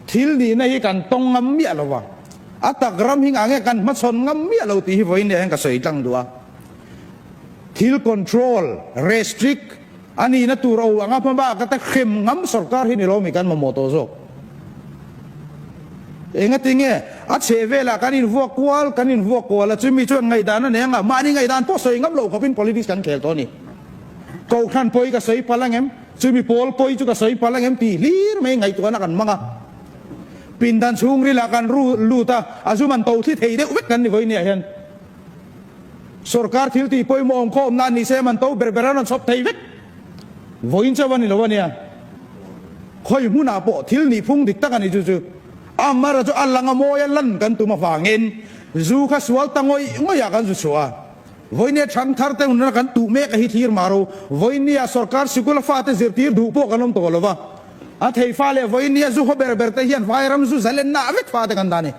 Thil nihna hi kan tawng ngam miah lo va, a tak ram hi nge kan hmachhawn ngam miah lo tih hi vawiin nihah hian ka sawi tlang duh a. Thil control, restrict a nihna tur aw anga hmabak a ta hrem ngam sorkar hi ni lo mi kan mamawh tawh zawk. Engatinge a chheh velah kan invuak kual, kan invuak kual a, chumi chuan ngaihdan a nei anga, mahni ngaihdan pawh sawi ngam lo khawpin politics kan khel tawh a ni. Kohhran pawi ka sawi palh angem? Chu mi pawl pawi chu ka sawi palh angem tih hlir mai ngaihtuahna kan hmang a, pindan chhungril ah kan ru lut a, a zum an to thli thei deuh vek kan ni vawiin ni ah hian sorkar thiltih pawimawh awm khaw awmna ani sem an to ber ber a rawn chhawp thei vek vawiin chauh a ni lo ania, khawi hmun ah pawh thil nih phung dik tak ani chu chu Amara chu a lang a mawi a lan kan tum avangin zu kha sual ta ngawih ngawih ah kan zu chhuah a. Vawini a chhang thar te hunna kan tuh mek a hi thlir mah ro. Vawini ah sorkar sikul a fate zirtir duh pawh kan awm tawh lo va. A thei fa leh vawini a zu haw ber ber te hian Vairam zu zal enna ah vek fate kan dah ni.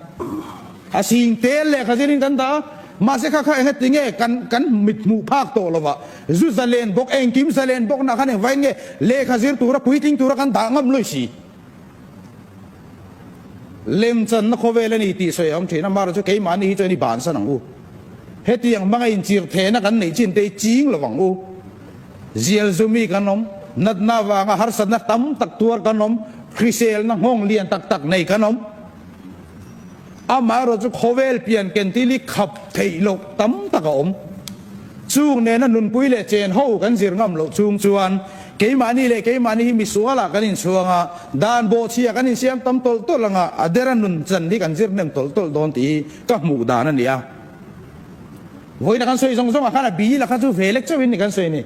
A sing tel lehkha zir in kan dah a, mahse kha kha engati nge kan kan mit hmuh phak tawh lo va. Zu za len bawk, engkim za len bawk nah khan engvai nge lehkha zir tura puitling tura kan dah ngam lawih si. Lem chuan na khawvel a ni tih sawi a awm thin a, mahra chu keimahni hi chuan i ban san ang u. Hetiang hmanga inchir thehna kan neih chin te i ching lo vang u. Zial zu mi kan awm, natna avanga harsatna tam tak tuar kan awm, hriselna nghawng lian tak tak nei kan awm. Amaherawh chu khawvel pian ken ti li khap theih loh tam tak a awm. Chung nena nunpui leh chen ho kan zir ngam loh chung chuan keimahni leh keimahni hi misuala kan inchhuang a, dan bawhchhia kan insiam tam tawlh tawlh anga a dera nun chan hi kan zir hnem tawlh tawlh dawn tih hi ka hmuh dan a ni a. Vawina kan sawi zawng zawng ah khan a bi la kha chu ve lek chauhin ni kan sawi a ni.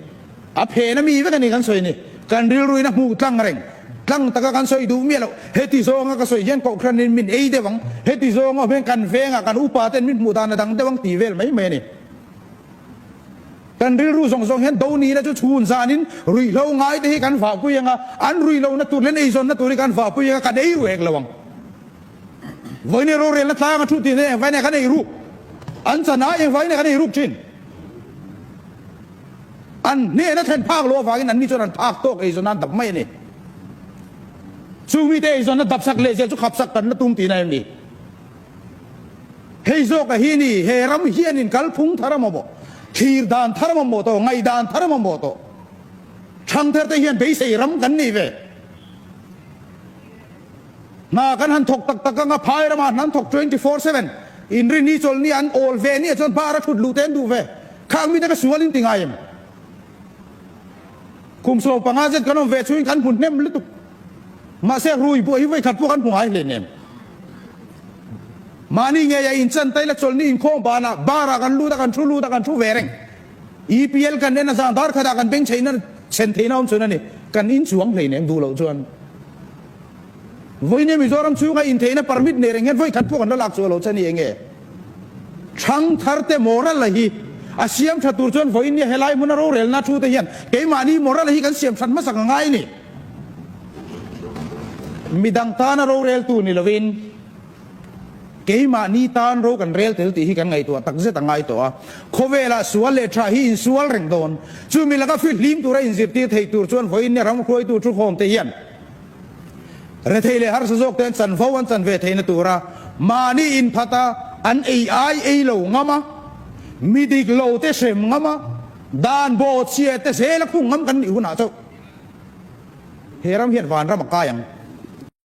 A phen ami vek a ni kan sawi ni. Kan rilruina hmuh tlang reng tlang taka kan sawi duh miah lo. Heti zawnga ka sawi hian Kohhranin min ei deuh ang. Heti zawng awm hian kan vengah kan upa ten min hmuh dan a dang deuh ang ti vel mai mai a ni. Kan rilru zawng zawng hian do nihna chu chhun zanin ruihhlo ngai te hi kan vahpui ang a, an ruihlona tur leh an eizawnna tur hi kan vahpui ang a, kan ei ruih hek lo ang. Vawineih rorelna tlang a thu ti hian engvainei ka nei ruk? An chan ah engvainei ka nei ruk thin? An hnehna thlen phak loh avangin anni chuan an phak tawk eizawnah an dap mai a ni. Chung mite eizawnah dapsak leh zel chu khapsak kan la tum ti na em ni? Hei zawkah hi ni he ram hianin kalphung thar a mawmawh, thlir dan thar a mawmawh tawh, ngaih dan thar a mawmawh tawh. Thangtherte hian beisei ram kan nei ve. Hna kan han thawk tak tak anga phai rama hna an thawk twenty four seven in ri ni chawl nia an awl ve nia chuan bar a thut lu te an duh ve khang mite ka sual in ti ngai em kum sawm panga zet kan awm ve chu in kan hmu hnem lutuk mahse rui buai hi vei khat pawh kan hmu ngai hle nem mahni ngei a in chan taila chawl ni in khawm ban ah bar ah kan lut a kan thu lut a kan thu ve reng EPL kan en a zah dar khatah kan beng theihna chhen theihna awm chhun a ni. Kan inchuang hleinem duh loh chuan vawinia Mizoram chhunga intheihna permit nei reng hian vawi khat pawh kan lo lak chhuah loh che ni enge? Thangthar te Morala hi a siam tha tur chuan vawinia helai hmuna rorelna a thu te hian keimahni Morala hi kan siam that hmasak a ngai a ni. Midang tana roreltu ni lovin. Keimahni tan ro kan rel tel tih hi kan ngaihtuah takzet a ngai tawh a, khawvela sual leh tha hi insual reng dawn. Chumi laka fill hlim tura inzirtir thei tur chuan vawiinne ram hruaitu thuhawmte hian rethei leh harsa zawkte an chanvo an chan ve theihna tura mahni inphata an ei ai ei lo ngam a, mi dik lo te hrem ngam a, dan baw chhia te zel a khung ngam kan nih hunah chauh he ram hian vanram a kai ang.